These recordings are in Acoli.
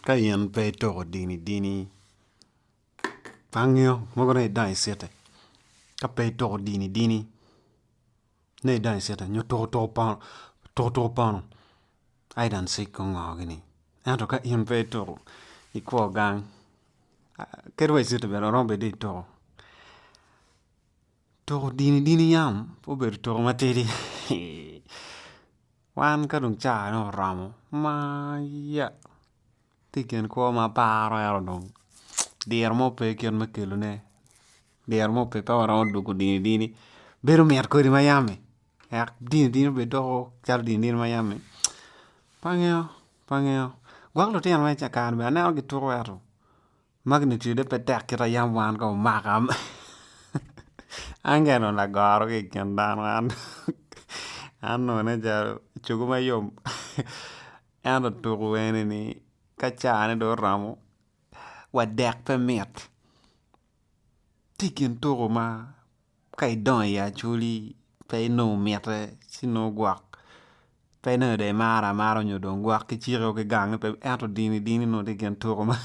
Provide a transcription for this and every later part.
Ka in pe itoko dini dini tangneo mogo ni idang i citi ka pe itoko dini dini ni idang i citi nyo tuku tuku pono aye dong cik gungo gini ento ka in pe itoko i kwo gang kadi wa i citi bene oromo bed dong itoko. Toko dini dini yam pe obedo toko matidi. Wan ka dong caa-ne oromo maya tye i kin kwo ma aparo ento dong diro mo pe kit me kelone diro mo pe pe waromo dwogo dini dini bedo mit kodi ma yam-mi wek dini dini obed doko calo dini dini ma yam-mi pe angeyo pe angeyo gwok lutino ma i kare-ni bene aneno gituko ento Magnitude pe tek kit a yam wan ka omaka. An kene onongo agoro ki i kin dano an onongo nen calo cogo ma yom ento tuku enini ka cane dong oromo wadek pe mit. Tye i kin tuku ma Ka idongo i Acholi pe inongo mitte ci nongo gwok pe inongo dong imaro amara nyo dong gwok ki ciko ki gange pe ento dini dini nongo tye i kin tuko ma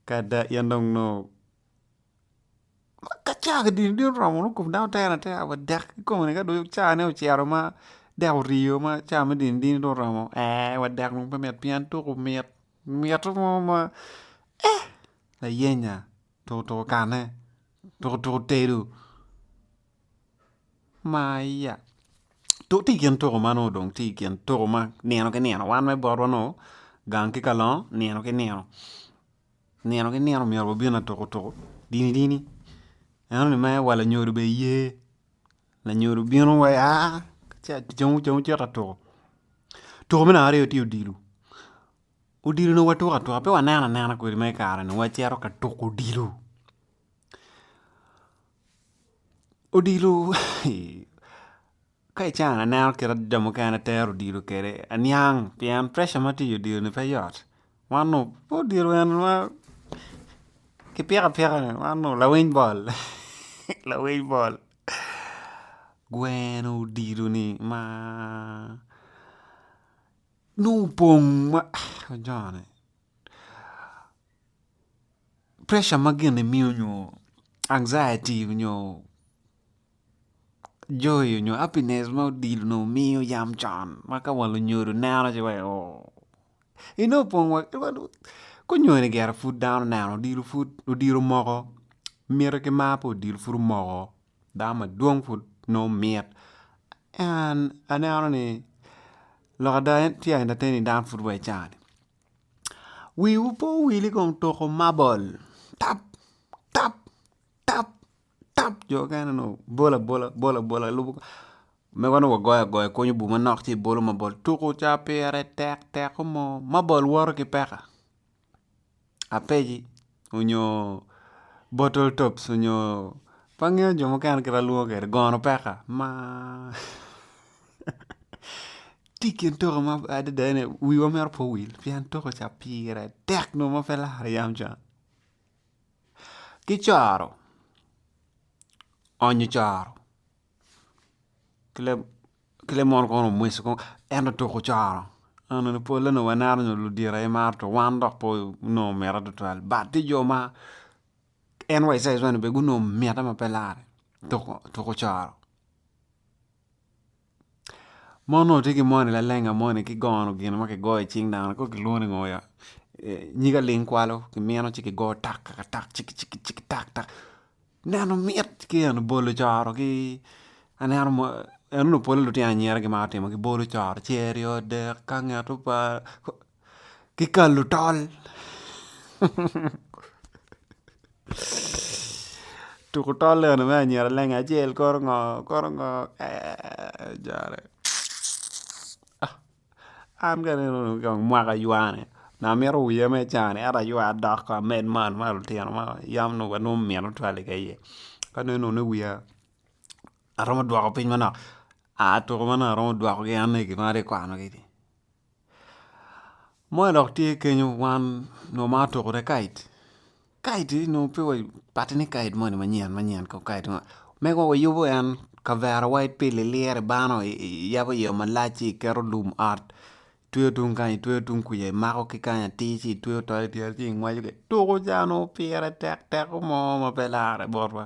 ka ada in dong nongo ka caa ki dini dini oromo nongo kom dano tere atera wa dek ki kome-ni ka dong caa ne ocito ma dek oryo ma caa me dini dini dong oromo ee wa dek dong pe mit pien tuko mit mito mo ma ee layenya. Tutu kane? Tutu tedo? Maya. Tuku tye i kin tuku ma nongo dong tye i kin tuku ma nino ki nino wan me botwa nongo gang ki kalongo nino ki nino, nino ki nino myero wabin atuku tuku dini dini ento ni mere wa lanyodo bene ye, lanyodo bino wa aa cito atuku. Tuku me namba aryo tye odilo. Odilo onongo watuko atuka, pe waneno anena kwede ma i kare-ni, onongo wacito ka tuko odilo. Odilo ka i can aneno kit ma jo mukene tero odilo kwede aniang pien preca ma tye i odilo-ni pe yot. Wan onongo pe odilo en ma kipiko apika ni, wan onongo lawiny bol, lawiny bol. Gweno odilo-ni ma. Nongo pong ma ajone pressure ma gin imiyo nyo anxiety nyo joy nyo happiness ma odilo nongo miyo yam con ma ka wang lunyodo neno ci wai oo inongo pong wa kunyoni gire pud dano oneno odilo pud odilo omoko miti ki mar pa odilo pud omoko Dano madwong pud nongo mit en aneno ni lok ada tye ka entertain ni dano pud wa i caa ni wiwu pe owili kong tuko mabol tap tap tap tap jo mukene dong bolo abola bolo abola lubo mego dong wagoyo agoya ikunyo bur manok ci ibolo mabol tuko caa pire tek teko mo mabol woto ki peka. apegi onyo bottle tops onyo pe angeyo jo mukene kit ma lwongo kwede gono peka ma tye i kin toka ma adada ni wiwa mito pe owil pien toka ca pire tek nongo ma pe ilaro yam ca ki coro onyo coro ki lamono kong onongo omwoco kong en dong tuko ocoro onongo pole ni waneno nyo ludito aye maro tuko wan dok pe onongo omito tutwal but tye jo ma en wa i size moni bene gunongo mitte ma pe lare tuko ocoro mon onongo tye ki moni lalenga moni ki gono gin ma kigoyo i cing dano kong kilwongo ni ngo ya nyig aling kwalo kimino ci kigoyo tak taka tak ciki ciki ciki tak tak Neno mit ki en bolo coro ki aneno mo en onongo pole lutino anyira gimaro timo ki bolo coro ce aryo adek ka angeto pa ki kalo tol tuko tol eno me anyira lenge acel koro ngo koro ngo ee jare. An ka aneno mwaka aywane onongo amito wiya me cani ento aywa dok ko amed man ma lutino ma yam onongo wa nongo mine twal i iye ka aneno ni wiya aromo dwoko piny manok aa tuko manok aromo dwoko gi ane i gima atye ka kwano gi ni moni dok tye kenyo wan onongo omaro tuko ne kite. Guide ni nongo pe wa pati ni guide moni manyen manyen kong guide moni mego wa yubo en kavera wa ipi lilire bano iyabo yeya malac ci iketo lum ot itweyo tung kany itweyo tung kuca imako ki kany atir ci itweyo tol idyere ci ingwaco ki tuku ca nongo pire tek teko mo ma pe lare botwa.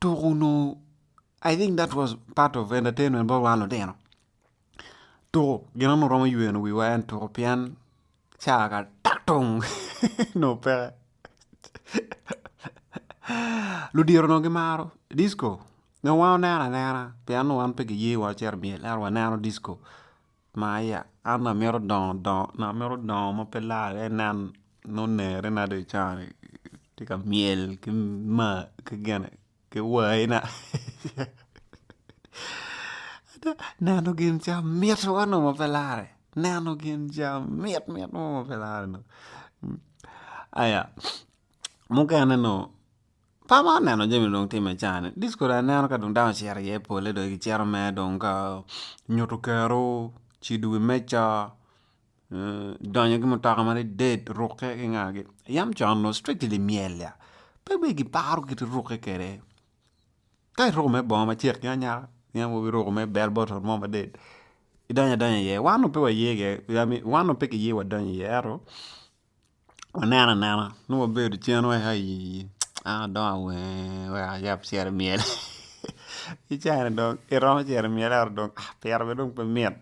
tuku onongo I think that was part of entertainment bot wan lutino, tuku gin ma onongo romo yweno wiwa en tuku pien ca ka to onongo peke ludito onongo gimaro disco nyo wan waneno anena pien onongo wan pe giye wa wacito i myel ento waneno disco. ma aya an amito dongo dongo nyo amito dongo ma pe laare aye nen nongo onere na dong cani tye ka myel ki mar ki gine ki wai na ada neno gin ca mit wa nongo ma pe lare neno gin ca mit mit mo ma pe lare nongo aya mukene nongo Par ma aneno jami dong timme i caa ni this kodi aneno ka dano ocito iye pole dong ki cito mere dong ka nyuto kero, cido wi meja, donyo ki mutoka madided rukke ki nga gi yam con onongo strictly limyel ya pe bene ki paro kit rukke kede ka iruko mere bongo ma cek ki anya ki yam kobo iruko mere bell bottle mo maded idonyo adonya iye wan onongo pe waye iye wan onongo pe kiye wadonyo iye ento waneno anena nongo wabedo cen wek ayii an adong awenge wek ayab cel i myel ki cani dong iromo cito i myel ento dong piro bene dong pe mit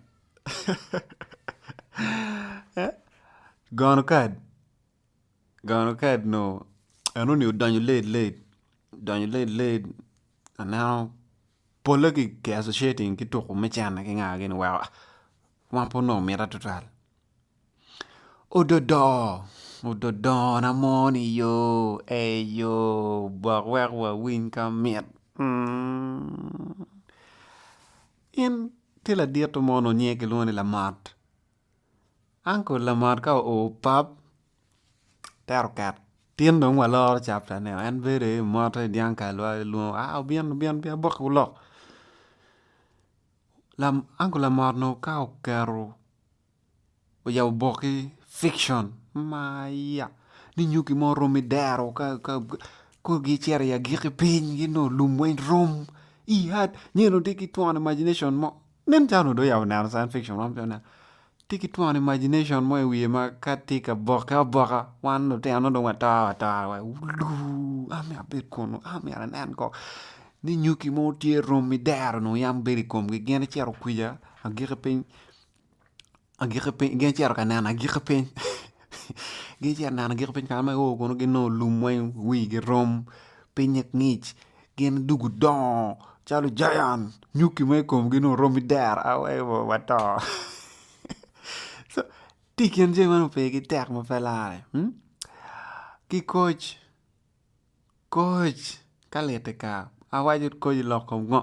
gono kad gono kad nongo enoni odonyo late late odonyo late late aneno pole kiketo citi ki tuko me cene ki ngagi ni weko man pud nongo mitte tutwal. Ododo ododona mo ni yo ei yo bok wek wawiny ka mit in tye ladito mo nongo nyinge kilwongo ni lamot uncle lamot ka oo pap tero ket tin dong waloro chapter ne en bedo aye mot aye dyang kal wa lwongo a obin obin obin aboke olok uncle lamot nongo ka oketo oyabo boki fiction maya ni nyo gin mo rom idero kor gicito i agiki piny gi nongo lum weng rom nyo dong tye ki twon imagination mo nen calo onongo dong oyabo neno science fiction man pud tye ki twon imagination mo i wiye ma ka tye ka bokke aboka wan lutino nongo dong wato atora wai wuluu an myero abed kunu an myero anen kong ni nyuki mo tye rom idero nongo yam bedo i komgi gin icito kwija agiki piny. agiki piny gin ocito ka neno agiki piny gin ocito ka neno agiki piny kama gio kunu ginongo lum weng wigi rom pinye ngic gin dong gudongo calo giant nyuki ma ikomgi dong oromo idero awee oo wato tye i kin jami meno pe gitek ma pe lare ki koc koc ka lit tika awaco koc iloko ngo.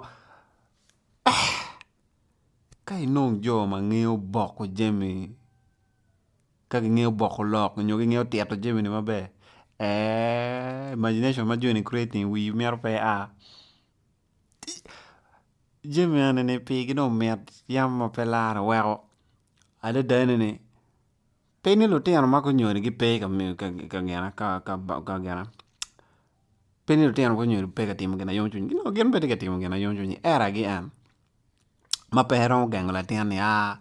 ka inong jo ma ngeyo boko jami ka gingeyo boko lok nyo gingeyo tito jami ni maber eeh imagination ma joni creating wi mito pe a jami eni ni pigi dong mit yam ma pe lar weko adada ni ni pe ni lutino ma gunyoni gipe ka gina pe ni lutino gunyoni gipe ka timo gin na yom cwiny gi nongo gin bene gitye ka timo gin na yom cwiny eragi en. ma pe eromo gengo latin ni a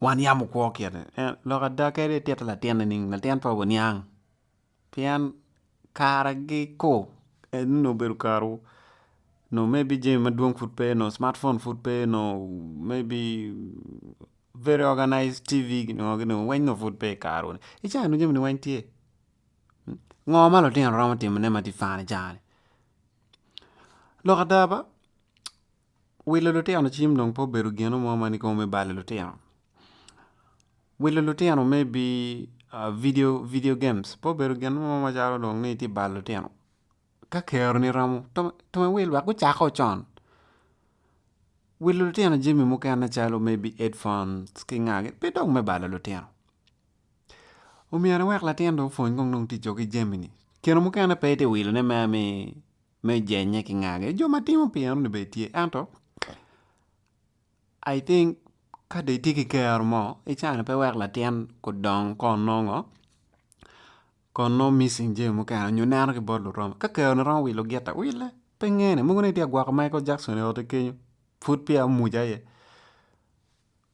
wan yam okwo kiti lok ada kadi itito latin nining latin pe oniang pien kare gi ko eni onongo obedo karewu nongo maybe jami madwong pud pe nongo smart phone pud pe nongo maybe very organized TV gin ngo gin ngo weng nongo pud pe ikarewu ni i caa ni dong jami ni weng tye ngo ma lutino romo timone ma tye fani i caa ni. Lok ada ba, wilo lutino cim dong pe obedo gin mo ma nikobo me balo lutino. Wilo lutino me bidio, video games pe obedo gin mo ma calo dong ni itye ka balo lutino. Ka keroni romo twero iwil wek gucak o con. Wilo lutino jami mukene calo maybe headphones ki nga pe dong me balo lutino. Omyero iwek latin dong opwony kong nongo ticce ki jami-ni. Keno mukene pe itye ka wilone me jenye ki ngagi. Jo ma timo pi enoni bene tye ento I think ka dong itye ki kero mo icano pe wek latin odong kun nongo kun nongo missing jami mukene nyo neno ki bot luromo. Ka keroni romo wilo giti wille pe ngene. Mogo nongo itye ka gwoko Michael Jackson i otti kenyo pud peya omuca iye.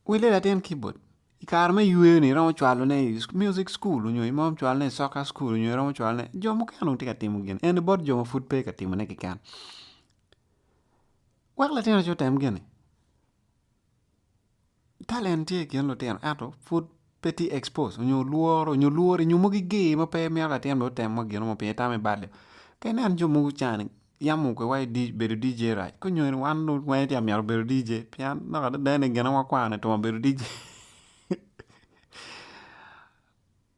Wille latin kibod i kare me yweyone iromo cwalone i music school onyo iromo cwalone i soccer school onyo iromo cwalone jo mukene dong tye ka timo gini ento bot jo ma pud pe ka timone keken wek latin aye otem gini talent tye i kin lutino ento pud pe tye expose onyo lworo onyo lworo inyomo gi ger ma pe mito latin bene otem gino mo pien itamo i balio ka ineno jo mogo cani yam oke wa bedo DJ rac ka onyongo ni wan dong wange tye ka myero obedo DJ pien lok adada ni gine wakwaro ni twongo bedo DJ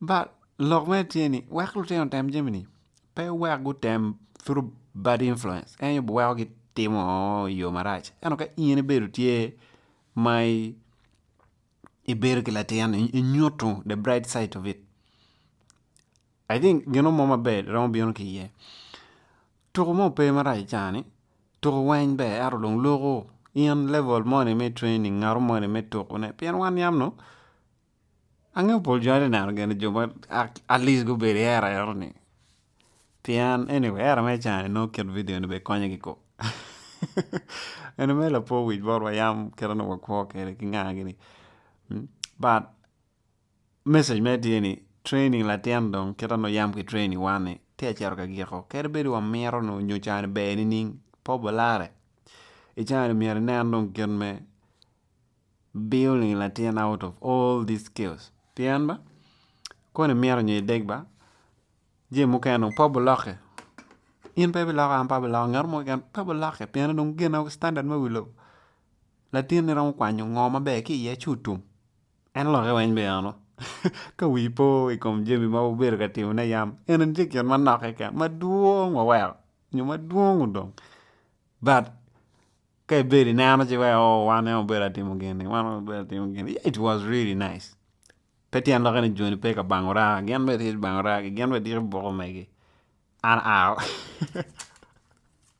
but lok mere tye ni wek lutino otem jami ni pe wek gutem through bad influence en aye biweko gitimo i yo marac ento ka in ibedo tye ma ibedo ki latin ni inyuto the bright side of it. I think gino mo maber romo bino ki iye. Tuku mo pe marac i cani, tuku weny ber ento dong loko in level moni me training ngato moni me tuku ne pien wan yam nongo angeyo pol jo atye neno gin jo ma at least gubedo i era eno ni pien anyway era me cani nongo kit video ni bene konyo kiko eni mere lapor wic botwa yam kit ma nongo wakwo kwede ki nga gini but Message mere tye ni training latin dong kit ma nongo yam ki training wan ni tye ka cito ka giko kadi bed wa mito nongo nyo cani ber nining pe obolare i cani myero inen dong kit me building latin out of all these skills pien ba koni mito nyo ideg ba jami mukene dong pe obuloki in pe ibiloko an pe abiloko ngat mo keken pe buloki pien dong gine standard me wi lobo latinni romo kwanyo ngo maber ki iye ci otum En olokke weny bene ano? Ka wii po i kom jami ma wubedo ka timone yam, eni tye gin manok keken, madwong waweko nyo madwong odong. But ka ibedo ineno ci weko oh wan en obedo atimo gin-ni wan en obedo atimo gin-ni yeah it was really nice. Pe tyen lok ni jo-ni pe ka bango raa, gin bene gitye ka bango raa-gi, gin bene gidiko buko megi. An out.